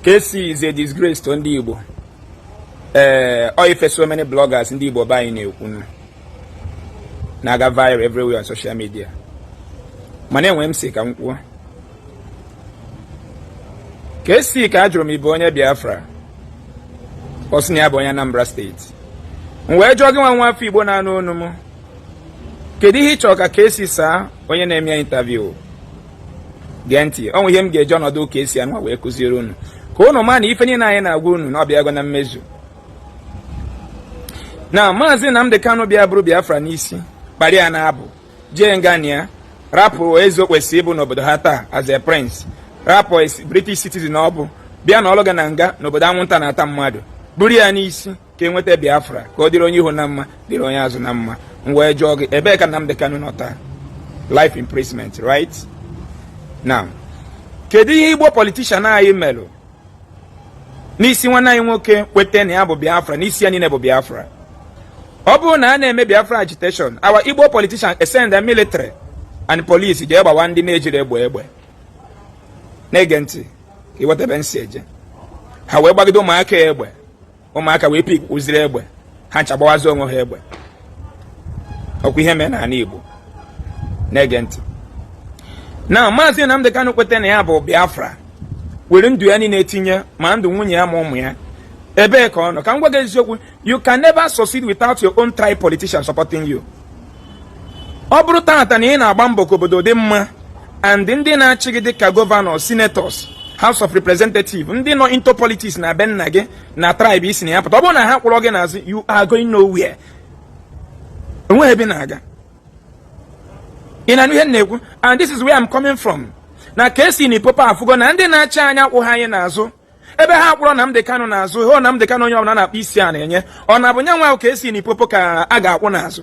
KC is a disgrace to ndị Igbo ee eh, ọ ife so many bloggers ndị Igbo be anyị na-ekwu na-aga viral everywhere on social media mana enwe m sị ka m kwuo KC ka a jụrụ ma ị bụ onye Biafra ọ sị na ya bụ onye Anambra steeti m wee jụọ gịnwa nwa afọ Igbo na-anụ onu m kedu ihe ị chọrọ ka KC saa onye na-eme ya intaviu gee ntị o nwe ihe m ga-eji ọnọdụ KC a nọ wee kụziere unu ka unu ma na ife niile anyị na-agwa unu na ọ bịa na mmezu na maazị Nnamdi Kanu bịa buru Biafra n'isi kpara ya na-abụ jee nga n'ihi ya rapụ eze o kwesịrị ịbụ n'obodo ha taa as a prince rapụ British citizen ọ bụ bịa nọlụga na nga n'obodo anwụnta na-ata mmadụ buru ya n'isi ka e nweta Biafra ka ọ dịrị onye ihu na mma dịrị onye azụ na mma m wee jụọ gị ebee ka Nnamdi Kanu nọ taa life imprisonment right now kedu ihe Igbo politician anyị melụ n'isi nwanne anyị nwoke kweta na ya bụ Biafra n'isi ya niile bụ Biafra ọ bụrụ na a na-eme Biafra agitation our Igbo politician send the military and police jee gbawa ndị na-ejirọ egbe egbe na-ege ntị ka iwetebe nsi eje ha wee gbagide ụmụaka egbe ụmụaka wee pick kwuziri egbe ha ncha gbawazi onwe ha egbe ọkwa ihe mee n'ala Igbo na-ege ntị na maazị Nnamdi Kanu kweta na ya bụ Biafra were ndụ ya niile etinye ma ndụ nwunye ya ma ụmụ ya ebee ka ọ nọ ka m gwa gị eziokwu you can never succeed without your own tribe politician supporting you ọ bụrụ tata na ị na-agba mbọ ka obodo dị mma and ndị na-achị gị dịka gọvanọ senators house of representative ndị nọ into politics na be nna gị na tribe i si na ya pụta ọ bụrụ na ha akwụrọ gị n'azụ you are going nowhere enweghị ebe ị na-aga ị na-anụ ihe m na-ekwu and this is where I'm coming from na KC Limpopo afụgo na ndị na-achị anyị akwụhọ anyị n'azụ ebe ha akwụrọ Nnamdi Kanu n'azụ hụ Nnamdi Kanu onye ọbụla na-akpọ isi ana enye ọ na-abụ yanwa ahụ KC Limpopo ka a ga-akwụ n'azụ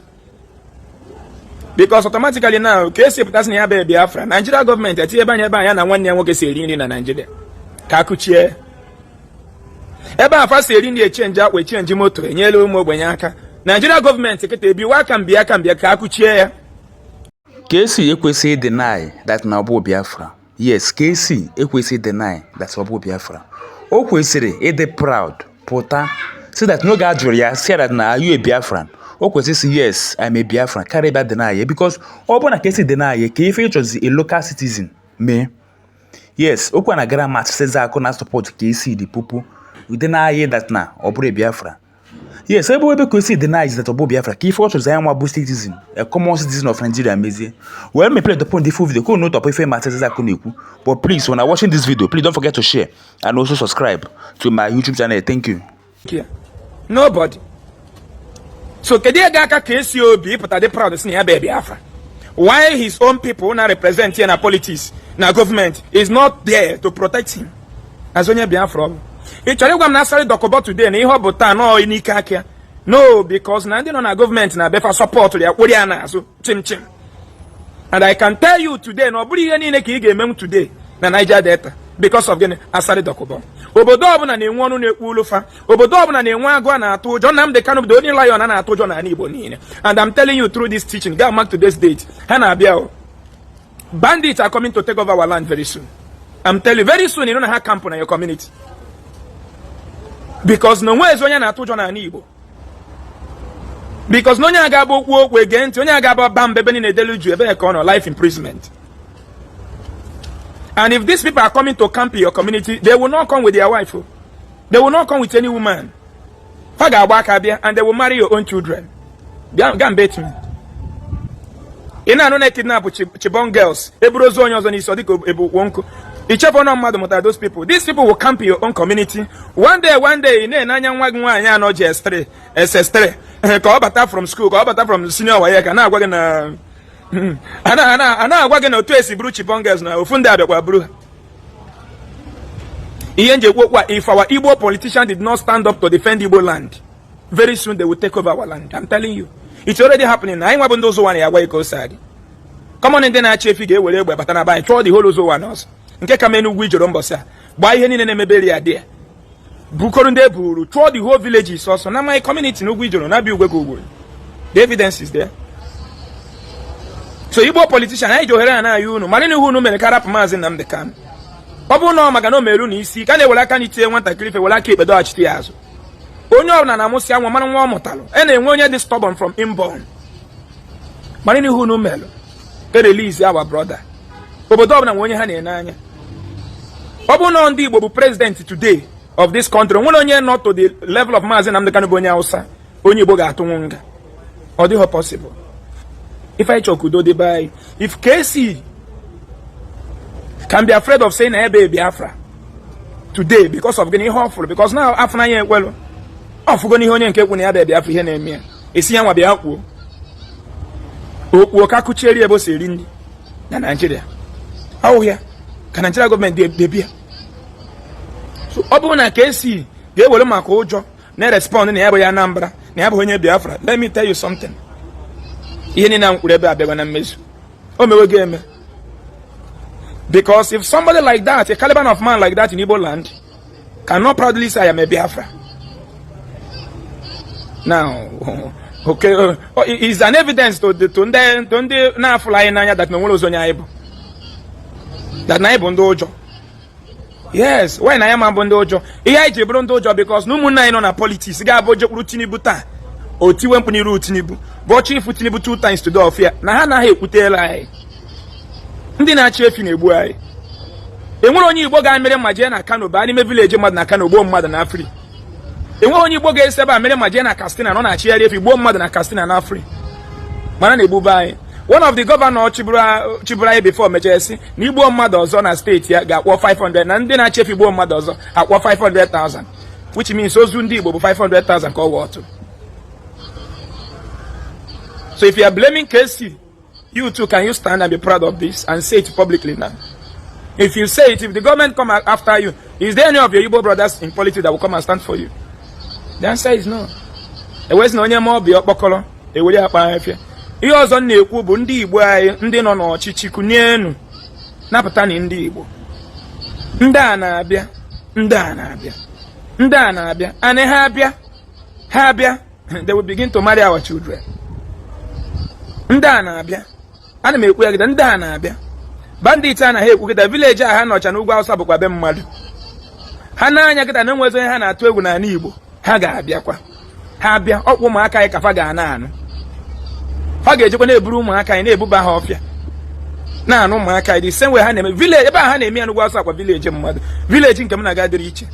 because automatically now KC pụta sị na ya bụ Biafra Naijiria gọọmenti etinyebe anya ebe ya na nwanne ya nwoke si eri nri na Naijiria ka a kụchie ebe a fa si eri nri echenji akwa echenji moto enyela ụmụ ogbenye aka Naijiria gọọmenti kịta ebiwa aka mbịa aka mbịa ka a kụchie ya KC ekwesị ịdeny that na ọ bụ Biafra yes KC ekwesị deny that ọ bụ Biafra o kwesịrị ịdị proud pụta sị that n'oge a jụrụ ya sị that are you a Biafran o kwesịrị ịsị yes I'm a Biafran karịa ịbịa deny ya because ọ bụrụ na KC deny ya kee ife ị chọzi ka local citizen mee yes okwu na gara ma sịza akụ na support KC Limpopo ịdeny that na ọ bụrọ Biafra yes ebe ebe KC denies that ọ bụ Biafra ka ife ọ chọrọ nwa bụ citizen a common citizen of nigeria mezie wee mepere the point full video ka unu tọpụ ife Maazị Isaac na-ekwu but please when i watching this video please don't forget to share and also subscribe to my youtube channel thank you nobody so kedu ihe ga-aka KC obi ịpụta dị proud sị na ya bụ biafra while his own people na-represent ya na politics na government is not there to protect him azụ onye Biafra ọ bụ ị chọrọ ịgwa m na Asari Dokubo today na ihe ọ bụ taa na ọ n'ike aka ya no because na ndị nọ na gọọmenti na be fa sọpọtụrụ ya kwụrụ ya n'azụ chịm chịm and i can tell you today na ọ bụrọ ihe niile ka ị ga-emenwu today na Niger Delta because of gịnị Asari Dokubo obodo ọbụla na-enwe ọnụ na-ekwulu fa obodo ọbụla na-enwe agụ a na-atụ ụjọ Nnamdi Kanu bụ onye lion a na-atụ ụjọ n'ala Igbo niile and I'm telling you through this teaching gaa mark today's date ha na-abịa Bandits are coming to take over our land very soon. I'm telling you, very soon ị nụ na ha akampụ na your community. Because na o nwezi onye na-atụ ụjọ n'ala Igbo. Because na onye a gaba ikwu okwu e gee ntị, onye a gaba ịba mba ebe niile edelu juu ebee ka ọ nọ life imprisonment. And if these people are coming to camp in your community, they will not come with their wife. Oh. They will not come with any woman. ha ga-agba aka bịa and they will marry your own children bịa ga mbe etu ị na-anụ na kidnap Chibok girls e buru ozu onye ọzọ n'isi ọ dịka e bu ukwu nkụ ị chefuo na mmadụ mụtara those people these people will camp your own community one day one day ị na-ene anya nwa gị nwaanyị nọ JS3 SS3 ka ọ bata from school ka ọ bata from senior WAEC a na-agwa gị na a na-agwa gị na otu e si buru Chibok girls na ofu ndị abịakwa buru ha ihe m ji ekwu okwu a if our Igbo politician did not stand up to defend Igbo land very soon they will take over our land I'm telling you it's already happening anyị nwa bụ ndị Uzo Uwani ya-agwa gị ka o si adị common ndị na-achị efi ga-ewere egbe bata na be anyị chụọ the whole Uzo Uwani ọsọ nke ka mee n'Ugwuijoro mbọsị a gbaa ihe niile na-emeberi ya dị ya bukọrọ ndị e buru chụọ the whole villagers ọsọ na my community n'Ugwuijoro na abịa ugwe ka ugwe the evidence is there so igbo politician anyị ji ohere a na-ayọ unu maranụ ihe unu mere ka a rapụ maazị Nnamdi Kanu ọ bụrụ na ọ maka na o mere unu isi ike na e were aka nri tie nwatakịrị ife were aka ekpe dọghachite ya azụ onye ọbụla na-amụsị nwa mara nwa ọ mụtalụ a na-enwe onye dị stubborn from inborn maranụ ihe unu mere e release our brother obodo ọbụla nwe onye ha na-ene anya ọ bụrụ na ndị Igbo bụ president today of this country nwere onye nọ to the level of Maazị Nnamdi Kanu bụ onye Hausa onye Igbo ga-atụnwu nga ọ dịghị possible if ị chọọ ka udo dị be if KC can be afraid of saying na ya bụ Biafra today because of gịnị ihe ọ fụrụ because na afụ n'anya ekwelụ ọ fụgo n'ihe onye nke kwu na ya bụ Biafra ihe na-eme ya a sị ya nwa bịa kwuo okwu ka kụchieri ebe o si eri nri na naijiria ọ wụ ya ka naijiria gọọmenti debia ọ bụrụ na ka esi ga-ewere maka ụjọ na-erespọnd na ya bụ onye Anambra na ya bụ onye Biafra let me tell you something ihe niile m kwuru ebe a abịago na mmezu o mewego eme because if somebody like that a caliber of man like that in Igbo land can not proudly say I am a Biafra. Now, okay, uh, oh, is an evidence to the to ndị to ndị na-afụla anyị n'anya that na o nwerọzi onye anyị bụ that na anyị bụ ndị ụjọ yes why anyị ama bụ ndị ụjọ ihe anyị ji bụrụ ndị ụjọ because na ụmụnna anyị nọ na politiks ga-abụ jekwuru tinubu taa o tiwe mkpu n'iru tinubu bụ chiifu tinubu two times tụfịa na ha anaghị ekwutela anyị ndị na-achị efi na-egbu anyị enwere onye igbo ga-amịrị ma jee na kano baa n'ime vileji mmadụ na kano gbuo mmadụ naa free enweghị onye igbo ga-esi ebe a mere ma jee na kastina nọ na-achịgharị efi gbuo mmadụ na kastina naa free mana na-egbube anyị one of the governor chịburu anyị before mechaa sị na e gbuo mmadụ ọzọ na steeti ya ga-akwụ 500 na ndị na-achị efi gbuo mmadụ ọzọ a kwụọ 500,000 which means ozu ndị igbo bụ 500,000 ka ọ worth so if you are blaming KC You too, can you stand and be proud of this and say it publicly now? If you say it, if the government come after you, is there any of your Igbo brothers in politics that will come and stand for you? The answer is no. Ewezi na onye ma ọbịa ọkpọkọrọ ewere akpa afịa. Ihe ọzọ m na-ekwu bụ ndị Igbo anyị ndị nọ n'ọchịchị kunie napụtanụ ndị Igbo. Ndị a na-abịa, ndị a na-abịa, ndị a na-abịa, anị ha abịa, ha abịa. they will begin to marry our children ndị a na-abịa ana m ekwu ya kịta ndị a na-abịa bandit a na ha ekwu kịta vileji a ha nọcha n'ugwu awụsa bụkwa be mmadụ ha na-anụ ya kịta na enwezi onye ha na-atụ egwu n'ala igbo ha ga-abịakwa ha abịa ọ bụ ụmụaka anyị ka fa ga na-anụ ha ga-ejekwa na-eburu ụmụaka anyị na-ebuba ha ọfịa na-anụ ụmụaka anyị the same way ha na-eme vileji ebe a ha na-eme ya n'ugwu awụsa kwa vileji mmadụ vileji nke m na-aga dịrị iche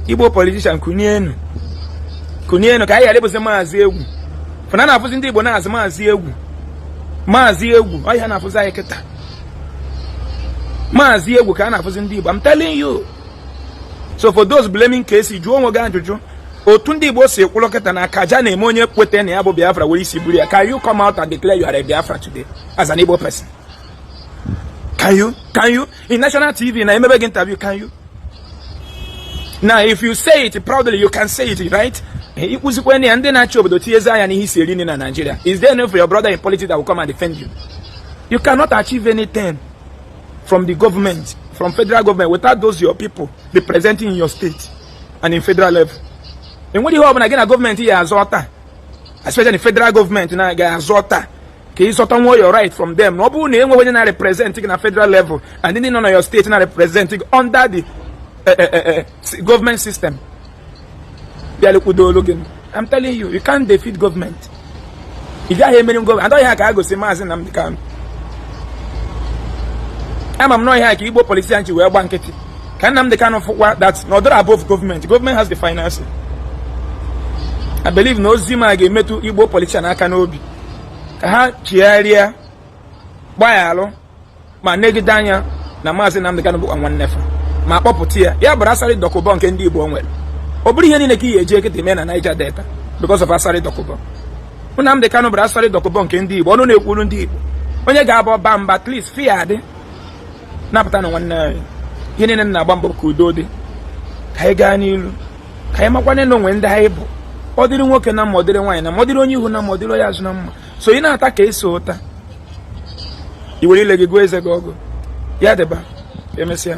igbo politishan kunienu kunienu ka anyị ghara ịbụzi maazị egwu fa na-afụzi ndị igbo now as maazị egwu maazị egwu ọ ihe a na-afụzi anyị kịta maazị egwu ka a na-afụzi ndị igbo I'm telling you so for those blaming KC jụọ onwe gị ajụjụ otu ndị igbo si kwụrụ kịta na akaja na-eme onye kweta na ya bụ biafra were isi buru ya can you come out and declare you are a biafra today as an igbo person can you can you in national tv na-emebe gị interview can you now if you say it proudly you can say it right ịkpụzikwa na ya ndị na-achị obodo tinyezi anya n'ihe isi eri nri na Nigeria is there any for your brother in politics that will come and defend you you cannot achieve anything from the government from federal government without those your people representing in your state and in federal level enweghị ihe ọbụla gị na gọọmenti ya-azọta especially federal gọọmenti na ga-azọta ka ị zọtanwu your right from them na ọ bụrụ na enweghị onye na-represent gị na federal level and ndị nọ na your steeti na-represent gị under the eh, eh, eh, government system bịalekwudo olu gị I'm telling you you can't defeat government ị gaghị emeri gọọmenti adọghị ha ka a gosi maazị Nnamdi Kanu ama m na ọ ya ka Igbo politicians anyị ji wee gba nkịtị ka Nnamdi Kanu fụkwa that na ọ dịrọ above gọọmenti gọọmenti has the final say I believe na ozi m a ga-emetụ Igbo politician aka n'obi ka ha chigharịa gbaghalụ ma negide anya na maazị Nnamdi Kanu bụkwa nwanne fa ma kpọpụta ya ya bụrụ Asari Dokubo nke ndị Igbo nwere ọ bụrụ ihe niile ka ihe eji ekete mee na Niger Delta because of Asari Dokubo Nnamdi Kanu bụrụ Asari Dokubo nke ndị Igbo ọnụ na-ekwuru ndị Igbo onye ga-abụ ọba mba at least fi ya adị napụtanụ nwanne anyị ihe niile na-agba mbọ ka udo dị ka anyị gaa n'ilu ka anyị makwane na o nwe ndị anyị bụ ọ dịrị nwoke na mma ọ dịrị nwaanyị na mma ọ dịrị onye ihu na mma ọ dịrị onye azụ na mma so ị na-ata ka eso ụta i were ile gị gụọ eze gị ọgụ ya dịba emesịa